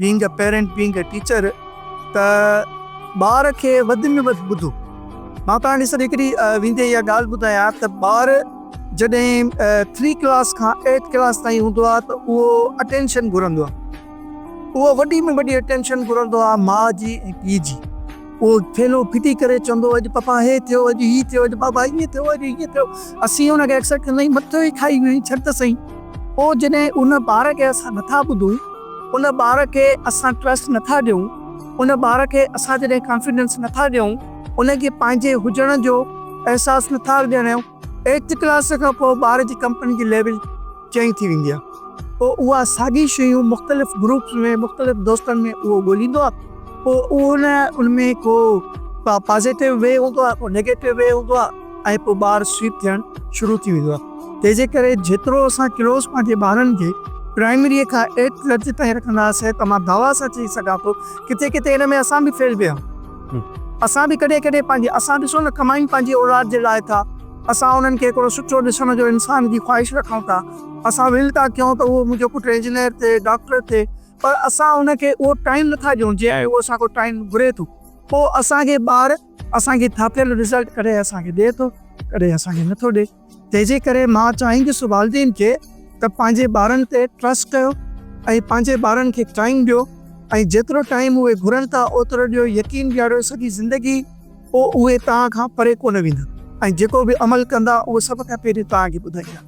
Bang a parent being a teacher ته ٻار کي وڌ ۾ وڌ ٻڌو مان توهان کي سر هڪڙي ويندي اها ڳالهه ٻڌايان ته ٻار جڏهن ٿري ڪلاس کان ايٽ ڪلاس تائين هوندو آهي ته اهو اٽينشن گهرندو آهي اهو وڏي ۾ وڏي اٽينشن گهرندو آهي ماء جي ۽ پيء جي اهو ٿيلهو ڦٽي ڪري چوندو هو اڄ پپا هي ٿيو اڄ هي ٿيو اڄ بابا ائين ٿيو اڄ هيئن ٿيو اسين ان کي اڪثر چوندا آهيون مٿو ئي کائي ويو آهين ڇڏ ته سهي پوء جڏهن ان ٻار کي اسان نٿا ٻڌون ان ٻار کي اسان ٽرسٽ نٿا ڏيون ان ٻار کي اسان جڏهن ڪانفيڊنس نٿا ڏيون ان کي پنهنجي هجڻ جو احساس نٿا ڏياريون ايٽٿ ڪلاس کان پوء ٻار جي ڪمپني جي ليول چئين ٿي ويندي آهي پوء اها ساڳي شيون مختلف گروپس ۾ مختلف دوستن ۾ اهو ڳوليندو آهي پوء اهو نه ان ۾ ڪو پازيٽو وي هوندو آهي ڪو نيگيٽو وي هوندو آهي ۽ پوء ٻار سوئپ ٿيڻ شروع ٿي ويندو آهي تنهن جي ڪري جيترو اسان ڪلوز پنهنجي ٻارن کي پرائمري کان ايٽ درجي تائين رکنداسين ته مان دعويٰ سان چئي سگهان ٿو ڪٿي ڪٿي ان ۾ اسان به فيل ويا آهيون اسان به ڪڏهن ڪڏهن پنهنجي اسان ڏسو نه ڪمائي پنهنجي اولاد جي لاء ٿا اسان انهن کي هڪڙو سٺو ڏسڻ جو انسان جي خواهش رکون ٿا. اسان ول ٿا ڪيون ته اهو منهنجو پٽ انجنيئر ٿئي، ڊاڪٽر ٿئي پر اسان ان کي اهو ٽائيم نٿا ڏيون جنهن اهو اسان کان ٽائيم گهري ٿو. پوء اسان کي ٻار اسان کي ٿاڦيل رزلٽ ڪڏهن اسان کي ڏئي ٿو ڪڏهن اسان کي نٿو ڏئي. تنهنجي ڪري مان چاهيندس والدين کي ته پنهنجي ٻارن تي ٽرسٽ ڪيو ۽ پنهنجي ٻارن کي ٽائيم ڏيو ۽ جيترو ٽائيم اهي گهرن ٿا اوترو ڏيو يقين ڏياريو سڄي زندگي پوء اهي توهان کان پري ڪونه ويندا ۽ جيڪو به عمل ڪندا اهو سڀ کان پهرين توهان کي ٻڌائيندا.